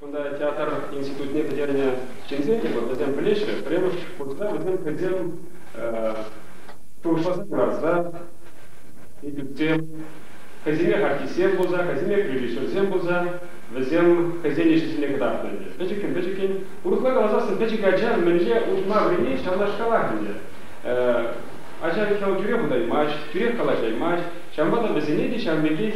Кунта театр институтне пӗтернӗ ҫынсем те пур, вӗсем пӗлеҫҫӗ. Пӗрремӗш курса вӗсем хӑйсем шухӑшласа курасса институтсем хӑйсемех артистсем пулса, хӑйсемех режиссерсем пулса, вӗсем хӑйсен ӗҫӗсене кӑтартнӑ ӗнтӗ. Пӗчӗккӗн-пӗчӗккӗн. Урӑхла каласассӑн пӗчӗк ача мӗнле улшӑна вӗренет ҫавнашкалах ӗнтӗ. Ача миххине тӳрех утаймасть, тӳрех калаҫаймасть. Ҫавӑнпа та вӗсене те ҫав пекех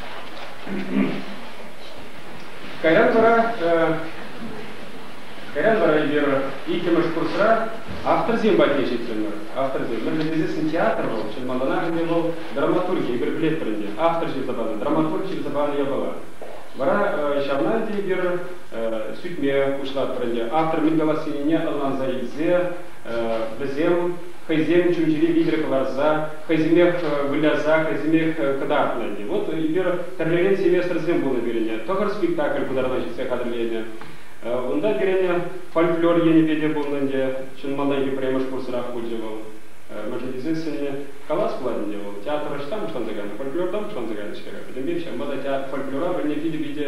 Кайран вара кайран вара эпир иккӗмӗш курсра авторсем патне ҫитрӗмӗр. Авторсем. Мӗн вӗтесессӗн театр вӑл, чӑн малтанах ӗнтӗ вӑл драматурги, эпир пӗлетпӗр ӗнтӗ, автор ҫырса панӑ, драматург ҫырса панӑ япала. Вара ҫавна ӗнтӗ эпир сӳтме пуҫлатпӑр ӗнтӗ. Автор мӗн калассине ӑнланса илсе вӗсем хӑйсем чун-чӗри витӗр кӑларса хӑйсемех выляса, хӑйсемех кӑтартнӑ. Вот эпир тӗрлӗрен семестрсем пулнӑ пирӗн. Тӑхӑр спектакль пытартма ҫитсе хатӗрленӗ. Унта пирӗн фольклор енӗпе те пулнӑ ӗнтӗ. Чӑн малтанхи пӗрремӗш курсрах пулчӗ вӑл. Мӗншӗн тесен сӗннӗ калас пулать ӗнтӗ, вӑл театр ӑҫтан пуҫланса кайнӑ, фольклортан пуҫланса кайнӑ-ҫке-ха. Пӗтӗмпех ҫавӑнпа та фольклора пӗлни питӗ-питӗ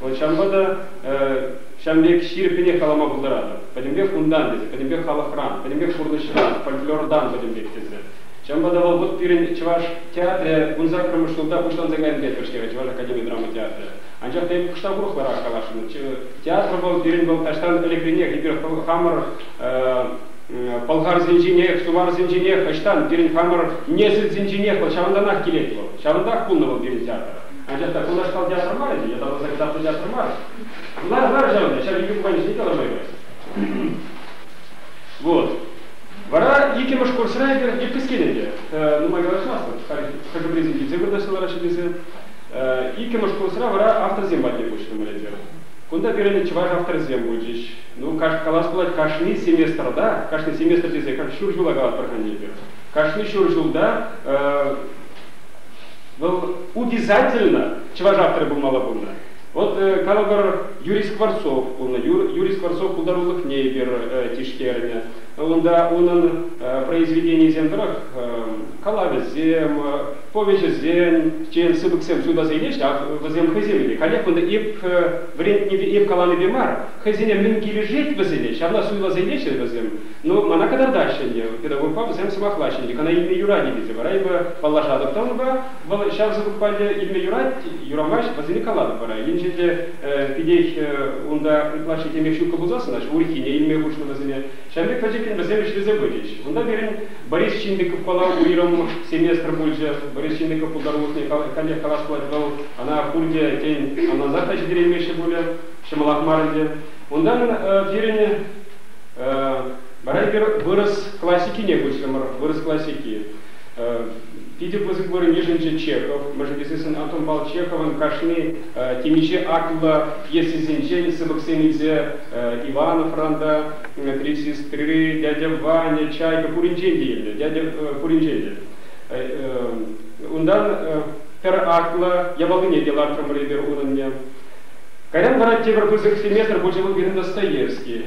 Ҫавӑнпа та ҫавӑн пек ҫирӗппӗнех калама пултаратӑп. Пӗтӗмпех унтан тесе, пӗтӗмпех халӑхран, пӗтӗмпех пурнӑҫран, фольклортан пӗтӗм пек тесе. Ҫавӑнпа та вӑл вӑт пирӗн чӑваш театрӗ ун саккӑрмӗш ҫулта пуҫланса кайнӑ пек пӗлтерӗ Чӑваш академи драма театрӗ. Анчах та эпӗ кӑштах урӑхларах каласшӑн. Театр вӑл пирӗн вӑл таҫтан ӗлӗкренех эпир хамӑр пӑлхарсенченех, суварсенченех, ӑҫтан пирӗн хамӑр несӗлсенченех вӑл ҫавӑнтанах килет вӑл. Ҫавӑнтах пулнӑ вӑл пирӗн театр. Анчах та кунашкал театр мар ӗнтӗ, ятарласа китаплӑ театр мар. Вуларӗ мар ҫав ӗнтӗ, ҫав икӗ пуканисене те ӑнланма юрать. Вот. Вара иккӗмӗш курсра эпир епискель ӗнтӗ. Нумай калаҫмастӑп, хӑшӗ-пӗрисем килсе вырнаҫнӑ вара ҫитӗнсе. Иккӗмӗш курсра вара авторсем патне куҫрӑмӑр эпир. Кунта пирӗн чӑваш авторӗсем пулчӗҫ. Ну, калас пулать, кашни семестрта, кашни семестр тесе ҫур ҫула калатпӑр-ха эпир. Кашни ҫур ҫулта Вӑл утизательно чӑваш авторӗ пулмалла пулнӑ. Вӑл, калӑпӑр, Юрий Скворцов пулнӑ. Юрий Скворцов пултарулӑхне эпир тишкернӗ. Унта унӑн произведенийӗсем тӑрӑх калавӗсем, повеҫӗсен, тен, сыпӑксем ҫутасене ҫав вӗсем хӑйсем ӗне. Халех кунта эп вӗрентнипе, эп каланипе мар, хӑйсене мӗн килӗшет вӗсене, ҫавна суйласене-ши вӗсем? Ну, мана кӑтартаҫҫӗ ӗнтӗ, педагогпа вӗсем сӑмахлаҫҫӗ ӗнтӗ, кана илме юрать-и тесе вара эпӗ паллашатӑп та унпа, вӑл ҫав сыпӑкпа илме юрать, юрамасть, вӗсене калатӑп вара. Енчен те питех унта ытлашшисемех ҫуккӑ пулсассӑн, урӑххине илме хушнӑ вӗсене, ҫав пек пӗчӗккӗн вӗсем ӗҫлесе пычӗҫ. Унта пирӗн Борис Чиндиковпала уйрӑм семестр пулчӗ. Борис Чиндиков пултарулӑхне каллех калас пулать, вӑл ана пурте, тен, ӑнлансах та ҫитереймеҫҫӗ пулӗ, ҫӑмӑлах мар ӗнтӗ. Унтан пирӗн Вара эпир вырӑс классикине куҫрӑмӑр. Вырӑс классики. Питӗ пысӑк вырӑн йышӑнчӗ Чехов. Мӗншӗн тесессӗн Антонпал Чеховӑн кашни темиҫе атллӑ пьесисенчен сыпӑксем илсе Ивановран та, три сестры, дядя Ваня, Чайка пуринчен те илнӗ, дядя пуринчен те. Унтан пӗр атлӑ япалине те лартрӑмӑр эпир унӑнне. Кайран вара тепӗр пысӑк семестр пулчӗ вӑл пирӗн Достоевский.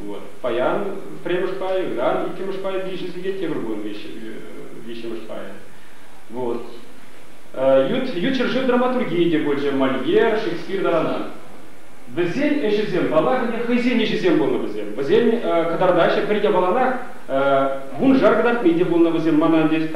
Вот. Паян пӗрремӗш пай, ыран иккӗмӗш пай виҫӗ сехет тепӗр кун виҫҫӗмӗш пай. Вот. Ют, ют ҫӗршыв драматургийӗ те пулчӗ Мольер, Шекспир таранах. Вӗсен ӗҫӗсем, паллах, ӗнтӗ хӑйсен ӗҫӗсем пулнӑ вӗсем. Вӗсен кӑтартаҫҫӗ пӗр япаланах. Вуншар кӑтартми те пулнӑ вӗсем. Мана ӗнтӗ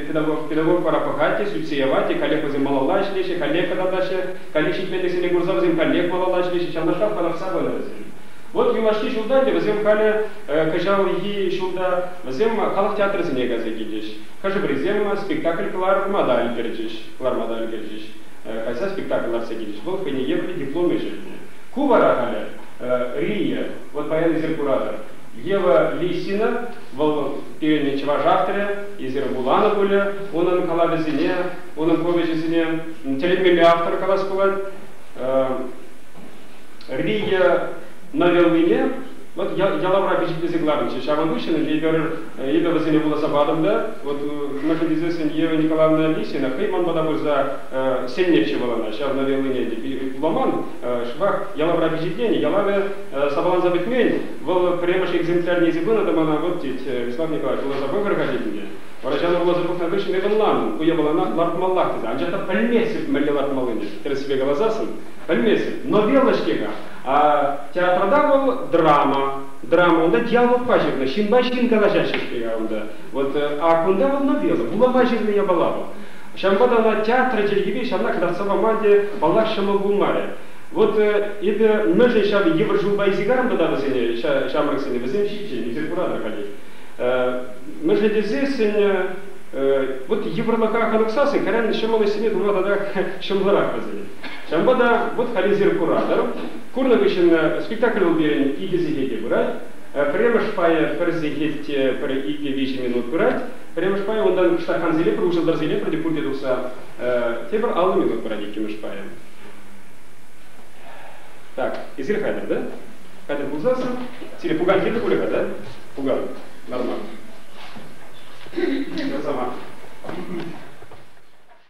педагог, педагог вара пӑхать те, сӳтсе явать те, каллех вӗсем малалла ӗҫлеҫҫӗ, каллех кӑтартаҫҫӗ. Каллех ҫитменлӗхсене курса вӗсем каллех малалла ӗҫлеҫҫӗ. Ҫавнашках пӑрахса пынӑ вӗсем. Вот юлашки ҫулта ӗнтӗ вӗсем халӗ кӑҫалхи ҫулта вӗсем халӑх театрӗсене кайса килчӗҫ. Хӑшӗ-пӗрисем спектакль кӑларма та ӗлкӗрчӗҫ, кӑларма та ӗлкӗрчӗҫ, кайса спектакль лартса килчӗҫ. Вӑл хӑйне евӗрлӗ диплом ишӗлнӗ. Ку вара халӗ Рине, вот паян-эсир куратӑр, Ева Лисина, вӑл пирӗн чӑваш авторӗ, эсир вуланӑ пулӗ унӑн калавӗсене, унӑн повеҫӗсене, тӗлӗнмелле автор калас пулать. Риге новеллине вот ялавра пичетлесе кӑларнӑччӗ. Ҫавӑн хыҫҫӑн эпир эпӗ вӗсене вуласа патӑм та, вот находясь Сергеева Николаевна Алисина хӑй ман пата пырса сӗннӗччӗ вӑл ӑна ҫав новеллине те вуламан. Шӑпах ялавра пичетлени, ялавӗ сапаланса пӗтмен. Вӑл пӗрремӗш экземплярне илсе пынӑ та мана вот тет, Вячеслав Николаевич вуласа пӑхӑр-ха тетӗн те. Вара ҫав вуласа пӑхнӑ хыҫҫӑн эпӗ ӑнланнӑ, ку япалана лартмаллах тесе, анчах та пӗлместӗп мӗнле лартмаллине, тӗрӗссипе каласассӑн. Пӗлместӗп, новелла-ҫке-ха. Театрта вӑл драма. Драма унта диалогпа ҫырнӑ, ҫынпа ҫын калаҫаҫҫӗ-ҫке унта. Вот, а кунта вӑл новелла, вулама ҫырнӑ япала вӑл. Ҫавӑнпа та ӑна театр чӗлхипе ҫавна кӑтартса пама те, паллах, ҫӑмӑл пулмарӗ. Вот, эпӗ мӗншӗн ҫав йывӑр ҫулпа иссигарам тата вӗсене, ҫамрӑксене, вӗсем ҫинчен илсе куратӑр-ха тет. Мӗншӗн тесессӗн, вот йывӑрлӑха хӑнӑхсассӑн кайран ҫӑмӑл ӗҫсене тума татах ҫӑмӑлрах вӗсен. Ҫавӑнпа та вут-халисем куратӑр. Курнӑ хыҫҫӑн спектакль пирӗн икӗ сехет те пырать. Пӗрремӗш пайӗ пӗр сехет те пӗр икӗ-виҫӗ минут пырать. Пӗрремӗш пайӗ унтан кӑштаххансене пӗр уҫӑлтӑрсене пӗрте пурте тухса тепӗр аллӑ минут пырать иккӗмӗш пайӗ. Так, эсир хатӗр, да? Хатӗр пулсассӑн, сире пукан кирлӗ пулӗ-ха, да? Пукан, нормал. Красава.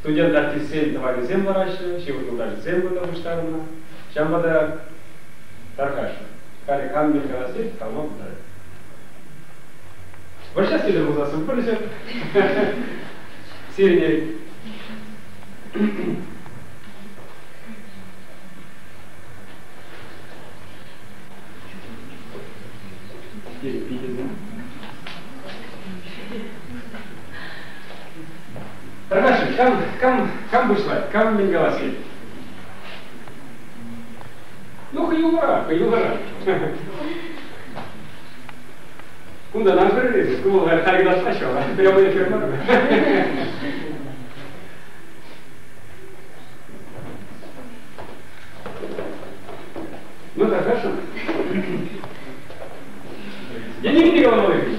студент-артистсен тӑванӗсем лараҫҫӗ, ҫывӑх юлташӗсем кунта пуҫтарӑннӑ. Ҫавӑнпа та тархасшӑн. Халӗ кам мӗн каласси калма пултарать. Вӑрҫа сире пулсассӑн пулӗҫӗр. Сирӗн Питӗ Канашӑн кам, кам, кам пуҫлать, кам мӗн калас Ну, хӑюлӑра, хӑюлӑра. Кунтан ан курӗр, кӑмӑла таркалатмаҫҫӗ, прямой эфир мар. Ну, так хорошо. Денег не головой.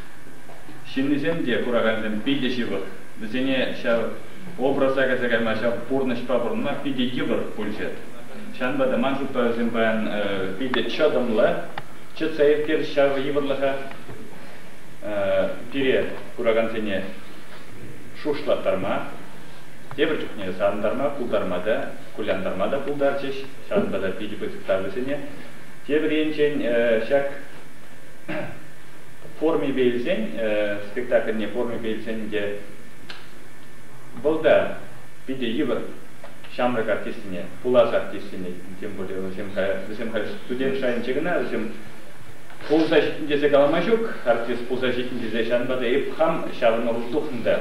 Ҫыннисем те, куракансем питӗ ҫывӑх. Вӗсене ҫав образа кӗрсе кайма ҫав пурнӑҫпа пурӑнма питӗ йывӑр пулчӗ. Ҫавӑнпа та ман шутлавӗсем паян питӗ чӑтӑмлӑ. Чӑтса ирттер ҫав йывӑрлӑха пире, куракансене, шухӑшлаттарма, тепӗр чухне савӑнтарма, пултарма та, кулянтарма та пултарчӗҫ. Ҫавӑнпа та питӗ пысӑк тав вӗсене. Тепӗр енчен ҫак формипе илсен, спектакльне формипе илсен те вӑл та питӗ йывӑр ҫамрӑк артистсене, пулас артистсене, тем более вӗсем вӗсем халь студент шайӗнче кӑна, вӗсем пулса ҫитӗн тесе калама ҫук, артист пулса ҫитӗн тесе ҫавӑнпа та эп хам ҫавӑн ӑру тухнӑ та.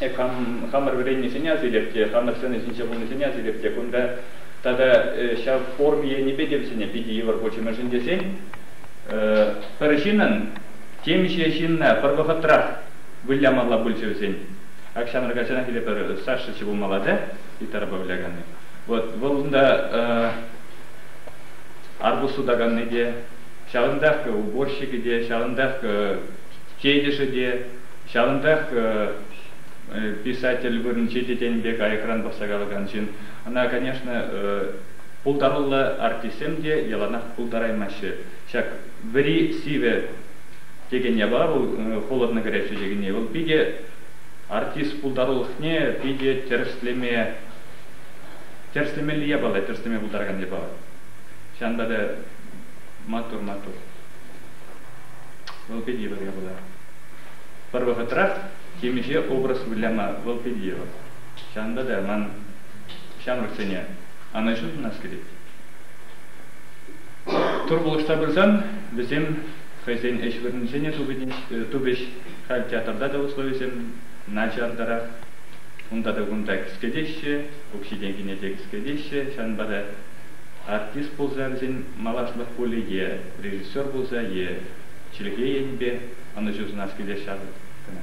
Эп хам хамӑр вӗреннисене асилеп те, хамӑр сцена ҫинче пулнисене асилеп те, кунта тата ҫав форми енӗпе те вӗсене питӗ йывӑр пулчӗ, мӗншӗн тесен Пӗр ҫынӑн темиҫе ҫынна пӗр вӑхӑтрах вылямалла пулчӗ вӗсен. Ак ҫамрӑк ачанах иле пӗр Сашӑччӑ пулмалла та, Итарапа выляканни. Вот вӑл унта арбуз сутаканни те, ҫавӑнтах уборщикӗ те, ҫавӑнтах тетӗшӗ те, ҫавӑнтах писатель вырӑнче те тенӗ пек аякран пӑхса калакан ҫын. Ӑна, конечно, Пултаруллӑ артистсем те яланах пултараймаҫҫӗ. Ҫак Вӗри сивӗ текен япала холодно горячее текенни вӑл питӗ артист пултарулӑхне питӗ тӗрӗслемелли япала, тӗрӗслеме пултаракан япала. Ҫавӑнпа та маттур, маттур. Вӑл питӗ йывӑр япала. Пӗр вӑхӑтрах темиҫе образ выляма вӑл питӗ йывӑр. Ҫавӑнпа та ман ҫамрӑксене ана ҫын сунас килет. Турпулӑшта пырсан вӗсем хӑйсен ӗҫ вырӑнӗсене тупӗҫ. Халь театрта та условисем начартарах. Унта та кунта кӗскетеҫҫӗ, укҫи-тенкине те кӗскетеҫҫӗ. Ҫавӑнпа та артист пулса вӗсен малашлӑх пулӗ е режиссер пулса, е чӗлхе енӗпе ӑнӑҫу сунас килет ҫав кӑна.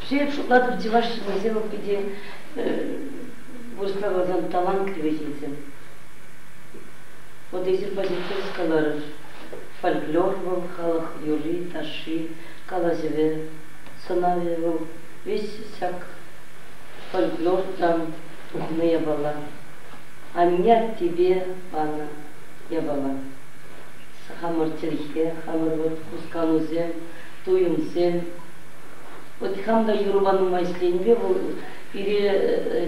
Пире шутлатӑп, чӑваш ҫыннисем питӗ вырӑсла каласан талантливый ҫынсем. Вот эсир позитив каларӑр. Фольклор вӑл, халӑх юрри-ташши, калаҫӑвӗ, сӑнавӗ вӑл, весь ҫак фольклортан тухнӑ япала. Анне-аттепе панӑ япала. Хамӑр чӗлхе, хамӑр вот хусканусем, туйӑмсем, Вот хам та юрӑпа нумай ӗҫленипе вӑл пире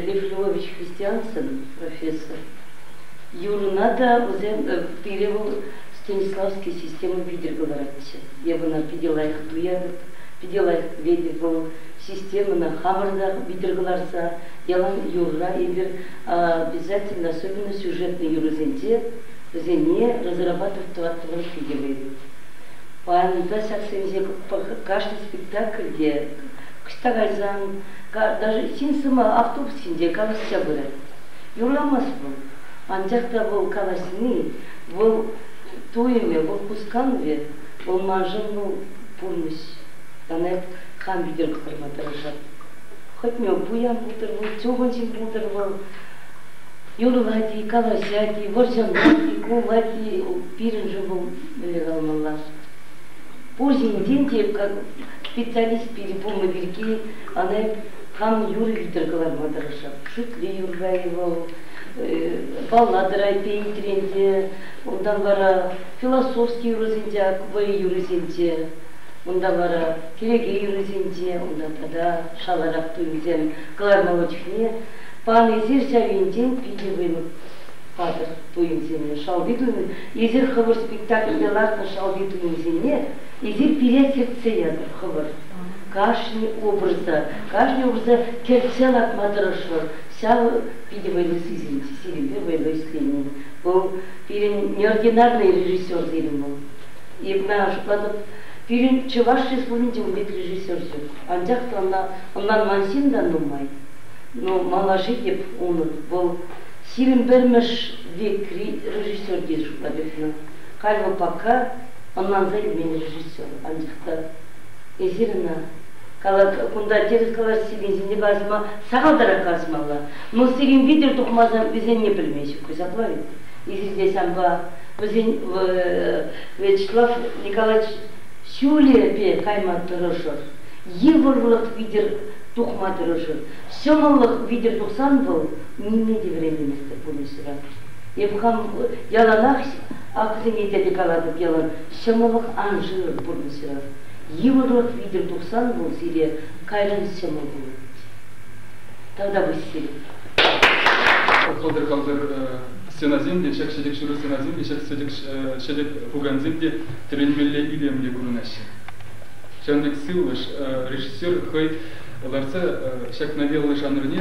Лев Львович Христиансон профессор юрӑна та вӗсем пире вӑл Станиславский система витӗр кӑларатчӗ. Я вона питӗ лайӑх туятӑп, питӗ лайӑх пӗлетӗп вӑл системӑна хамӑр та витӗр кӑларса ялан юрра эпир обязательно особенно сюжетнӑй юрӑсенче вӗсене разрабатывать тӑваттӑмӑр питӗ вӑйлӑ. Парӑмта ҫаксенче кашни спектакль те ӑҫта кайсан, даже ҫын сӑмах автобус ҫинче калаҫса пырать. Юрамасть вӑл. Анчах та вӑл калаҫни, вӑл туйӑмӗ, вӑл хусканӑвӗ, вӑл маншӑн вӑл пурнӑҫ. Мана хам витӗр кӑтартма тӑрӑшать. Хӑтне пуян пултӑр вӑл, чухӑн ҫын пултӑр вӑл. Юрлать-и, калаҫать-и, вӑрҫӑнать-и, кулать-и, пирӗншӗн вӑл мӗнле калмалла пур енчен те как специалист пирки пулнӑ пирки ана кам юр витӗр кӑларма тӑрӑшать шӳтле юрра вӑл баллада райпе итренте унтан вара философски юрӑсенче вӑй юрӑсенче унта вара кӗнеке юррисенче унта тата шаларах туйӑмсем кӑлармалла чухне панӑ эсир ҫав енчен питӗ вӑй Хатӗр туйӑмсене, шалти туйӑм. Эсир хӑвӑр спектакльте лартнӑ шалти туйӑмсене эсир пире кӗртсе ятӑр хӑвӑр. Кашни образа, кашни образа кӗртсе лартма тӑрӑшӑр. Ҫавӑ питӗ вӑйлӑ сисӗнет, сирӗнпе вӑйлӑ ӗҫленин. Вӑл пирӗн неординарнӑй режиссер сирӗн вӑл. Эп мӗн шутлатӑп, пирӗн Чӑваш Республикинче ун пек режиссер ҫук. Анчах та ӑна ӑнланман ҫын та нумай. Ну, малаше те пур унӑн. Вӑл Сирӗн пӗрмӗш векри режиссер тесе шутла кӗтнӗ. Кальва Пака, ӑнланса илмен режиссер, анчах та эсир ӑна кала, кунта тӗрӗс калас текенсене калаҫма сахалтарах калаҫмалла. Ну, сирӗн витӗр тухмасан вӗсенне пӗлме ҫук-и ҫапла-и? Эсир те санпа, вӗсен, Вячеслав Николаевич ҫулӗпе кайма тӑрӑшӑр, йывӑрлӑх витӗр тухма тӑрӑшӑр. Ҫӑмӑллӑх витӗр тухсан вӑл нимле те вӗренместӗп пурнӑҫра. Эп хам яланах акӑсене тете калатӑп ялан, ҫӑмӑллӑх ан шыр пурнӑҫра. Йывӑрлӑх витӗр тухсан вӑл сире кайран ҫӑмӑл пулать. Тата Василий. Кӑлтӑр-кӑлтӑр стенасем те, чӗк-ҫӗтӗк ҫурӑ стенасем те, чӗк-сӗтӗк ҫӗтӗк пукансем те тӗлӗнмелле илемлӗ курӑнаҫҫӗ. Ҫавӑн пек сывлӑш режиссер хӑй лартса ҫакна веллӑ жанрне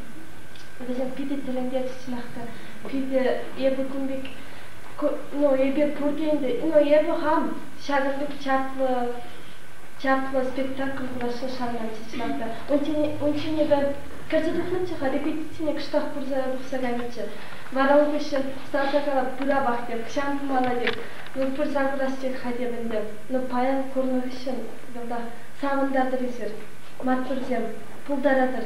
Вӗсем питӗ тӗлӗнтерӗҫ-ҫӑнах Питӗ эпӗ кун пек, ну, эпир пурте ӗнтӗ, ну, эпӗ хам ҫакӑн пек чаплӑ чаплӑ спектакль пуласса шанатчӗ чӑнах унччен эпӗ кӗрсе тухнӑччӗ-ха репетицине кӑштах пырса тухса кайнӑччӗ вара ун хыҫҫӑн старса калап пыравах пек ҫам пымана пек ну пырса курас тек-ха тем ӗнтӗ ну паян курнӑ хыҫҫӑн савӑнтартӑр эсир маттурсем пултаратӑр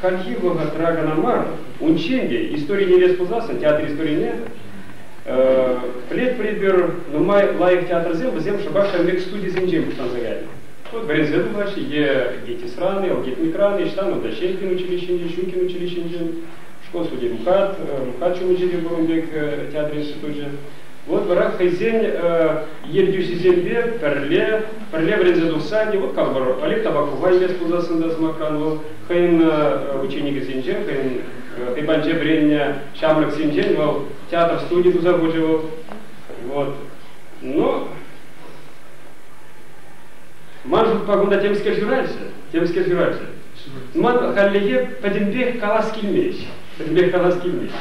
хальхи вӑхӑтра кӑна мар, унччен те истори интереслӗ пулсассӑн театр историне Флетприпер нумай лайӑх театрсем вӗсем шӑпах ҫав пек студисенчен пуҫланса кайнӑ. Вот Брезен влаҫ е Гетисраны, Элгетмикраны, Штанова Щелькин училищинче, Щукин училищинче, школ студии Мукат, Мукат Чумучири пурӑн пек театр институчӗ. Вот вара хӑйсен ертӳҫисемпе пӗрле пӗрле вӗренсе тухса не вот как бы Олег Табакова илес пулсассӑн та сӑмахран вӑл хӑйӗн ученикӗсенчен хӑйӗн хӑйпанче вӗреннӗ ҫамрӑксенчен вӑл театр студи туса хучӗ вӑл вот но ман шутпа кунта темскер ҫыраҫҫӗ темскер ҫыраҫҫӗ ман хальлӗхе пӗтӗмпех калас килмест пӗтӗмпех калас килмест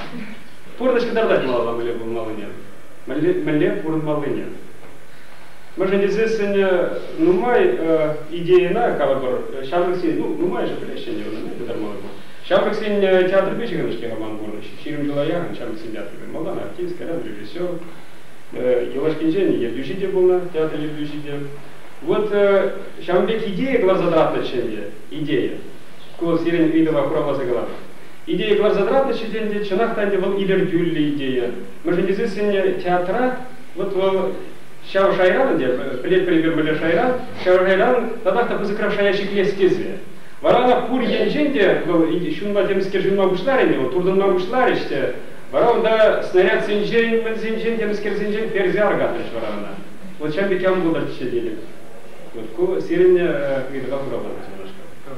Пурнӑҫ кӑтартать малалла мӗнле пулмаллине, мӗнле пурӑнмаллине. Мӗншӗн тесе сӗнӗ нумай идейӑна калӑпӑр ҫамрӑксен, ну нумайӑшӗ пӗлеҫҫӗ ӗнтӗ ӑна, пытармалла мар. Ҫамрӑксен театрӗпе ҫыхӑннӑ-ҫке роман пурнӑҫ. Ҫирӗм ҫула яхӑн ҫамрӑксен театрӗ малтан артистка, режиссер, юлашкинчен ертӳҫи те пулнӑ, театр ертӳҫи те. Вот ҫавӑн пек идея кӑларса тӑратнӑччӗ ӗнтӗ, идея. Ку сирӗн ыйтӑва хуравласа калам. Идея кӑларса тӑратнӑччӗ те ӗнтӗ, чӑнах та ӗнтӗ вӑл илӗртӳллӗ идея. Мӗншӗн тесен сӗннӗ театра вот вӑл ҫав шайран ӗнтӗ, пӗлетпӗр-эпир мӗнле шайран, ҫав шайран татах та пысӑкрах шая ҫитмест тесе. Вара ӑна пур енчен те вӑл ҫунма темскер ҫунма пуҫларӗ ӗнтӗ, вӑл туртӑнма пуҫларӗҫ те, вара унта снарядсенчен, мӗнсенчен, темскерсенчен персе аркатрӗҫ вара ӑна. Вот ҫав пек ям пултӑрччӗ тетӗп. Вот ку сирӗн ыйтӑва хуравланӑ ҫавнашкал.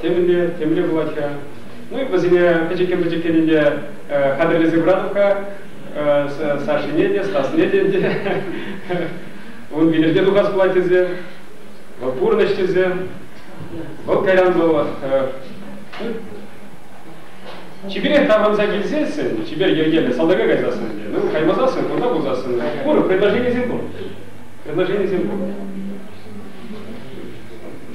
темӗнле темле пулать-ха. Ну и вӗсене пӗчӗккӗн-пӗчӗккӗн ӗнтӗ хатӗрлесе братовка Сашине те, Стасне те ӗнтӗ. Ун вилӗмне тухас пулать тесе, вӑл пурнӑҫ тесе, вӑл кайран вӑл чиперех таврӑнса килсессӗн, чипер йӗркеллӗ салтака кайсассӑн те, ну каймасассӑн, кунта пулсассӑн, пур предложенисем пур, предложенисем пур.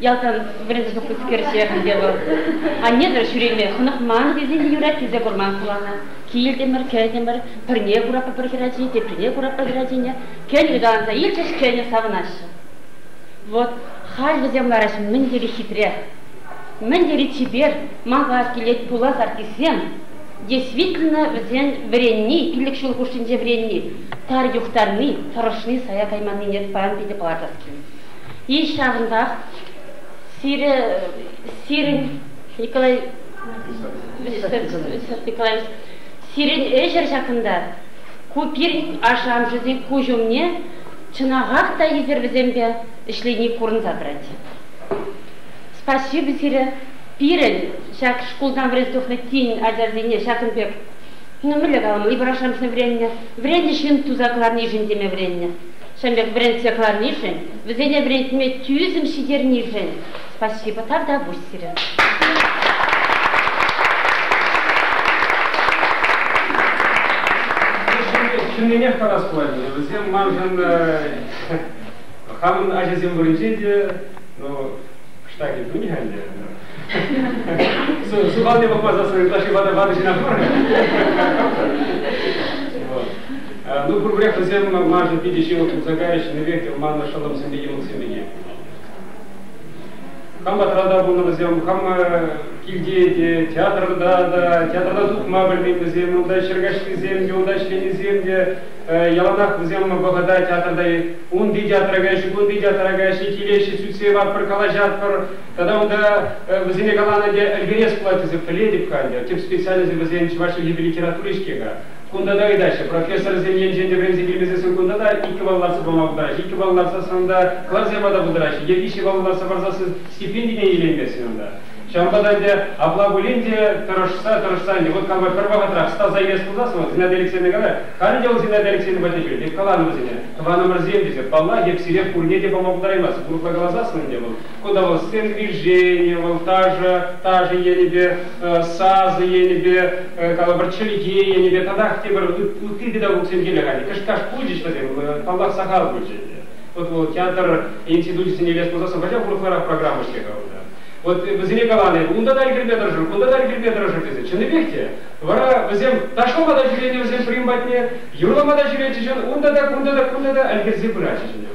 ялтан вӗрентсе те вӑл анне ҫӳреме хӑнӑхман тесен юрать тесе курман хулана. Килтӗмӗр, кӗтӗмӗр, пӗрне кураппӑр пӗр хӗрачи, теприне кураппӑр хӗрачине. Кӗнӗ каланса илчӗҫ, кӗнӗ савӑнаҫҫӗ. Вот халь вӗсем лараҫ мӗн тери хитре, мӗн тери чипер, мала килет пулас артистсем. Действительно вӗсен вӗренни, пилӗк ҫул хушшинче вӗренни, тар юхтарни, тӑрӑшни, сая кайманнине паян питӗ палӑртас килет. И ҫавӑнтах сире сирӗн Николай Николаевич сирӗн ӗҫӗр ҫакӑнта ку пирӗн ашшӗ-амӑшӗсен куҫ умне чӑнахах та эсир вӗсемпе ӗҫлени курӑнса тӑрать. Спасибо сире пирӗн ҫак шкултан вӗренсе тухнӑ тин ачасене ҫакӑн пек ну мӗнле каламалла ибо ашшӗ-амӑшне вӗреннӗ вӗреннӗ ҫын туса кӑларнишӗн теме вӗреннӗ Ҫӗнӗлӗх вӗрентсе кӑларнишӗн, вӗсене вӗрентме тӳсӗм ҫитернишӗн спасибо, тавтапуҫ сирӗн. Чӑннинех калас пулать, вӗсем маншӑн хамӑн ачасем вырӑнче те, ну, штаки тунӗ ӗнтӗ. Сухал те папа засранный, ытла ватӑ ҫына пур. Ну, проблем вӗсем маршӑн питӗ ҫывӑх тухса кайрӗҫ, ӗнерпех маннӑ шӑллӑмсемпе йӑмӑксемпене. Хам патрата пулнӑ вӗсем, хам килте те, театрта та, театрта тухма пӗлмен вӗсем, унта ҫӗркаҫлисем те, унта ӗҫленисем те. Яланах вӗсем вӑхӑта театрта унти театра каҫҫӗ, кунти театра каҫҫӗ, килеҫҫӗ, сӳтсе яватпӑр, калаҫатпӑр. Тата унта вӗсене каланӑ те ӗлкӗрес пулать тесе пӗлетӗп халь те. Тӗп специальность вӗсен чӑваш чӗлхипе литератури-ҫке-ха. Кунта та ыйтаҫҫӗ. Профессорсем енчен те вӗренсе килмесе суккунта та иккӗ балл лартса пама пултараҫҫӗ. Иккӗ балл лартсассӑн та класс япата пултараҫҫӗ. Е виҫҫӗ балл лартса парсассӑн стипендине илейместӗн унта. Ҫавӑнпа та ӗнтӗ апла пулин те тӑрӑшса, тӑрӑшса ӗнтӗ вӑт кама пӗр вӑхӑтрах стаса илес пулсассӑн вӑл Зинаида Алексеевна калать, халӗ те вӑл Зинаида Алексеевна патне ҫӳрет, эп каланӑ вӗсене, тӑванӑмӑрсем тесе, паллах, эп сире пурне те пама пултараймастӑп. Урӑхла каласассӑн ӗнтӗ вӑл кӑтӑлӑскер движение, вӑл ташӑ, ташӑ енӗпе, сасӑ енӗпе, калӑпӑр, чӗлхе енӗпе татах тепӗр ытти педагогсем килӗ халь. Кӑшташ пулчӗҫ вӗсем, паллах, сахал пулчӗ ӗнтӗ. Вот вӑл театр институчӗсене илес пулсассӑн пачах урӑхларах программа ӗҫле-ха унта. Вот вӗсене каланӑ эпӗ, унта та ӗлкӗрме тӑрӑшӑр, кунта та ӗлкӗрме тӑрӑшӑр тесе. Чӑннипех те, вара вӗсем ташлама та ҫӳренӗ вӗсем Прим патне, юрлама та ҫӳретчӗҫ, унта та, кунта та, кунта та ӗлкӗрсе пыратчӗҫ ӗнтӗ.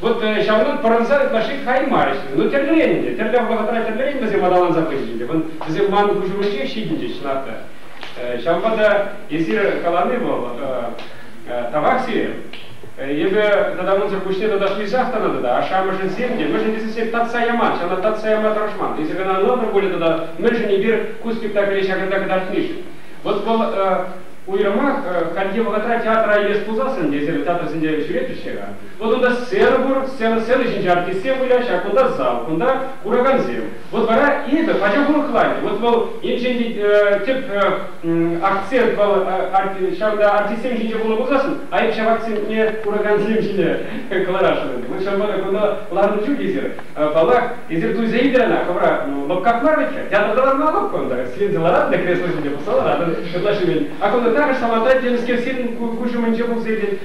Вот ҫавӑнтан пӑрӑнса ытлашши каймарӗҫ. Ну, тӗрлӗрен ӗнтӗ. Тӗрлӗ вӑхӑтра тӗрлӗрен вӗсем аталанса пычӗҫ ӗнтӗ. Вӗсем ман куҫӑмӗнчех ҫитӗнчӗҫ, Нарта. Ҫавӑнпа та эсир калани вӑл тавах сире. Эпӗ тата унсӑр пуҫне таташлисах тӑнӑ тата, ашшӗ-амӑшӗсем те, мӗншӗн тесе сире татса яман, ҫавна татса яма тӑрӑшман. Эсир кӑна ӑнлантӑр пулӗ тата, мӗншӗн эпир ку спектакле ҫакӑнта кӑтартнишӗн. Вот вӑл уйрӑмах хальхи вӑхӑтра театра илес пулсассӑн, эсир театрсенче ҫӳретӗҫ-ҫке-ха. Вот кунта сцена пур, сцена, сцена ҫинче артистсем выляҫ, а кунта зал, кунта куракансем. Вот вара это пачах урӑхланчӗ. Вот вӑл енчен э, тӗп э, акцент вӑл э, ҫавӑнта артистсем ҫинче пулнӑ пулсассӑн, а ҫав акцентне куракансем ҫине кӑларасшӑн. Мы все равно кунта ларнӑ чух эсир, паллах, эсир туйса илнӗ ӑна, хӑвра лӑпкак мар вӗт-ха, театрта ларма лӑпкӑ унта, сиренсе ларатӑн та кресло ҫинче пулса ларатӑн, ытлашши. А кунта также самостоятельно с кем куҫ умӗнче пулса иртет,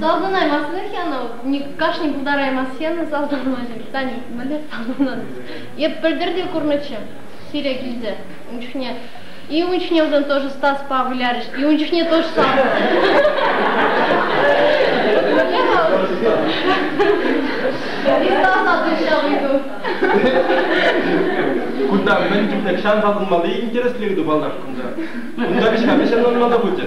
Салтӑнаймастӑн-и янӑ? Кашни пултараймасть-янӑ салтӑнмаҫӑн. Таня, мӗнле салтӑннӑн? Эп пӗлтӗр те курнӑччӗ сире килте. Ун чухне и ун чухне унтан тоже Стаспа вылярӗҫ, и ун чухне тоже салтӑн. Кунта мӗн чухлӗ ҫан салтӑнмалли интереслӗ ыйту паллах кунта. Унта кӑҫка вӗҫӗн ӑнмалла пулчӗ.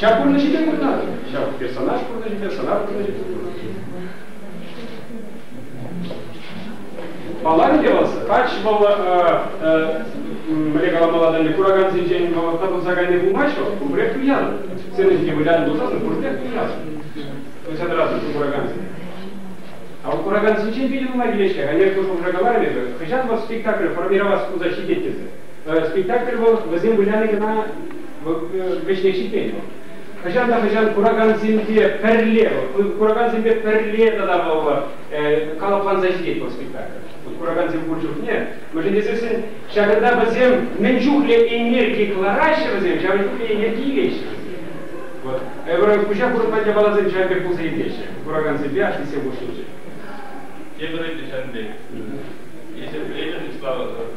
Ҫав пурнӑҫӗпе курнӑ, ҫав персонаж пурнӑҫӗпе, сӑнар пурнӑҫӗпе курнӑ. Паллах-и вӑл кач вӑл мӗне каламалла тенӗ куракансенчен вӑхӑтта пырса кайни пулмасть вӑл, пурпӗрех туянӑн. Сцена ҫинче вылянӑ пулсассӑн пурпӗрех туянӑн. Пырса тӑратӑн куракансене. А у куракансенчен питӗ нумай килет-ҫке. Ӗнер пуҫ хушра каларӑм эпӗ, хӑҫан вӑл спектакль формировас пулса ҫитет тесе. Спектакль вӑл вӗсем выляни кӑна вӗҫне ҫитмен вӑл. Хӑҫан та хӑҫан куракансемпе пӗрле, куракансемпе пӗрле тата паллӑ калӑпланса ҫитет вӑл спектакль. Куракансем пур чухне, мӗншӗн тесессӗн ҫакӑнта вӗсем мӗн чухлӗ энерги кӑлараҫҫӗ вӗсем, ҫавӑн чухлӗ энерги илеҫҫӗ вӗсем. Вот. Эпир куҫа хурӑнман япаласем ҫавӑн пек пулса илмеҫҫӗ куракансемпе артистсем хушшинче. Тепӗр ӗнтӗ ҫан пек. Эсир пӗлетӗр Слава тӑр.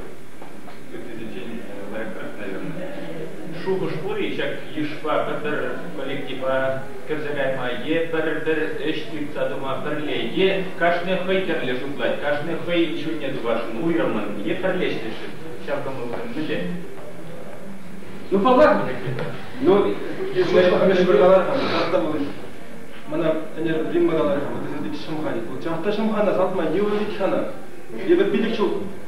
Шухӑш пур-и ҫак йышпа пӗр-пӗр коллектива кӗрсе кайма е пӗр-пӗр ӗҫ тытса тума пӗрле е кашни хӑй тӗрлӗ шутлать, кашни хӑй ҫулне тупасшӑн уйрӑммӑн е пӗрлешнӗшӗн ҫав кӑмӑлсем мӗнле? Ну, паллах, но мӗшпӗр калар-ха, кастамалли мана ӗнер Римма каларӗ, вот если ты шамханит, вот чафта шамхана салтма не увидеть хана, евӗр пилӗк ҫул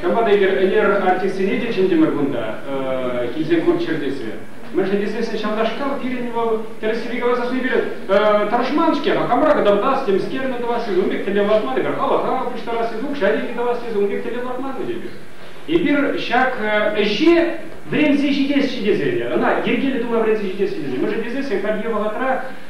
Ҫавӑнпа та эпир ӗнер артистсене те чӗнтӗмӗр кунта, килсен курччӑр тесе. Мӗншӗн тесен ҫавнашкал пирӗн вӑл тӗрӗссипе каласа хӑйне пире тӑрӑшман-ҫке, хамӑра кӑтартас, темскерне тӑвас тесе ун пек тӗллев лартман эпир, халаха пуҫтарас тесе укҫа-тенкӗ тӑвас тесе ун пек тӗллев лартман эпир. Эпир ҫак ӗҫе вӗренсе ҫитесчӗ тесе, ӑна йӗркеллӗ тума вӗренсе ҫитесчӗ тесе. Мӗншӗн тесен сен хальхи вӑхӑтра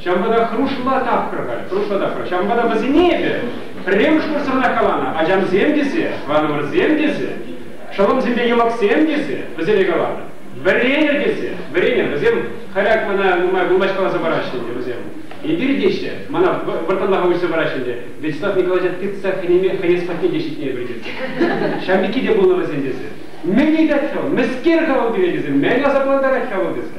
Ҫавӑнпа та хӑрушла тапхӑр-ха, хӑрушла тапхӑр. Ҫавӑнпа та вӗсене эпӗ пӗрремӗш вырсранах каланӑ. Ачамсем тесе, тӑванӑмӑрсем тесе, шӑлӑмсемпе йӑмӑксем тесе вӗсене каланӑ. Вӗренӗр тесе, вӗренӗр. Вӗсем халӗ мана нумай вырнаҫкаласа параҫҫӗ ӗнтӗ вӗсем. Эпир теҫҫӗ, мана вӑрттӑнлӑха уҫса параҫҫӗ ӗнтӗ. Вячеслав Николаевича тытса хӗнес патне те ҫитнӗ эпир тесе. Ҫав пекки те пулнӑ вӗсен тесе. Мӗн ыйтать-ха вӑл? Мӗскер-ха вӑл пире тесе мӗн асаплантарать-ха вӑл тесе.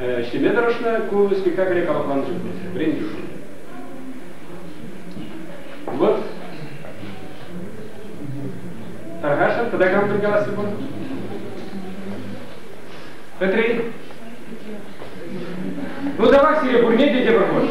ӗҫлеме тӑрӑшнӑ. Ку спектакле капатланӑ вӗрентӳшӗн. Вот. Тархашӑн тӑтакан пӗлкаласси пур. Петри. Ну давай сире пурне те тепӗр хут.